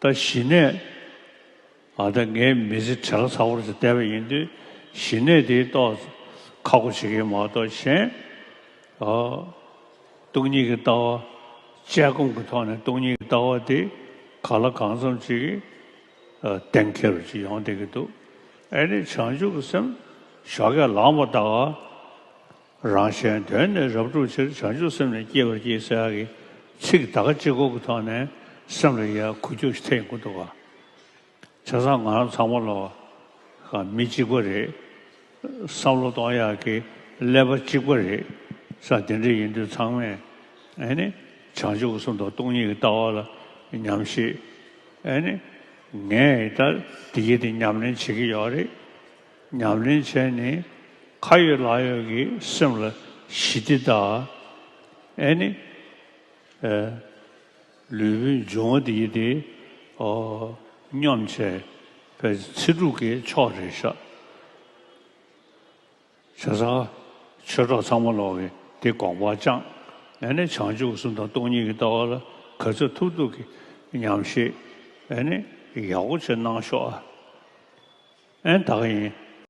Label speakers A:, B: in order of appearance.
A: ད་ཞི་གནས་ཨ་ད་ངའི་མི་ཚེ་བྲེལ་ཚ་བོར་བྱས་བསྡད་པ་ཡིན་དུས་ཞི་གནས་དེའི་ཏོག་ཁ་སྒོ་འབྱེད་མཁན་མ་གཏོགས་གཞན་ཨོ། སྟོང་ཉིད་ཀྱི་ལྟ་བ་དཔྱད་སྒོམ་གྱི་ཐོག་ནས་སྟོང་ཉིད་ཀྱི་ལྟ་བ་དེ་ག་ལ་གང་འཚམ་ཅིག་གཏན་འཁེལ་བ་ཅིག་ཡོང་བསྡད་ཀྱི་འདུག་ཨེ་ནི་བྱང་ཆུབ་ཀྱི་སེམས་ཞོགས་ཀྱང་ལངས་པ་ལྟར། རང་གཞན་དོན་ནི་རབ་སྒྲུབ་ཕྱིར་བྱང་ཆུབ་སེམས་ནི་བསྐྱེད་པར་བགྱི་ཟེར་བ་གྱི་ཚིག་དག་གཅིག་གོ་གི་ཐོག་ནས་སེམས་ལ་ཡལ་གོ་རྒྱུ་ཞིག་ཐེག་མགོ་འདུག་བྱ་བཟང་ང་རང་ཚང་མ་ལ་ཁང་མིག་གཅིག་པ་རེད། བསམ་བློ་གཏོང་ཡག་གི་ཀླད་པ་གཅིག་པ་རེད། ས་དེ་འདྲ་ཡིན་དུས་ཚང་མས་ཨེ་ནི་བྱང་ཆུབ་གསུང་དང་སྟོང་ཉིད་ཀྱི་ལྟ་བ་ལ་ཉམས་ཤིག་ཨེ་ནི། ངས་ད་དེ་གྱིས་དེ་ཉམས་ལེན་བྱེད་ཀྱི་ཡོད་རེད། ཉམས་ལེན་བྱས་ནས་ཁ་ཡོད་ལག་ཡོད་ཀྱི་སེམས་ལ་ཞི་བདེ་དང་ཨེ་ནི་ཨེ། ལུས་པོའི་འབྱུང་བ་འདི་དེ་སྙོམས་བྱས་པའི་ཚེ་དྲུག་གི་ཕྱོགས་རེ་བཞག་བྱས་ཙང་ཆོས་གྲོགས་ཚང་མ་ལོག་གིས་དེ་དགོངས་པ་བཅང་ཨེ་ནི་བྱང་ཆུབ་གསུམ་དང་སྟོང་ཉིད་ཀྱི་ལྟ་བ་ལ་ག་ཚོད་ཐུབ་ཐུབ་ཀྱིས་ཉམས་བཞེས། ཨེ་ནི་ཡག་པོ་ཆེ་གནང་ཤོག་ཨ། ཨེ་ད་ག་ཡིན།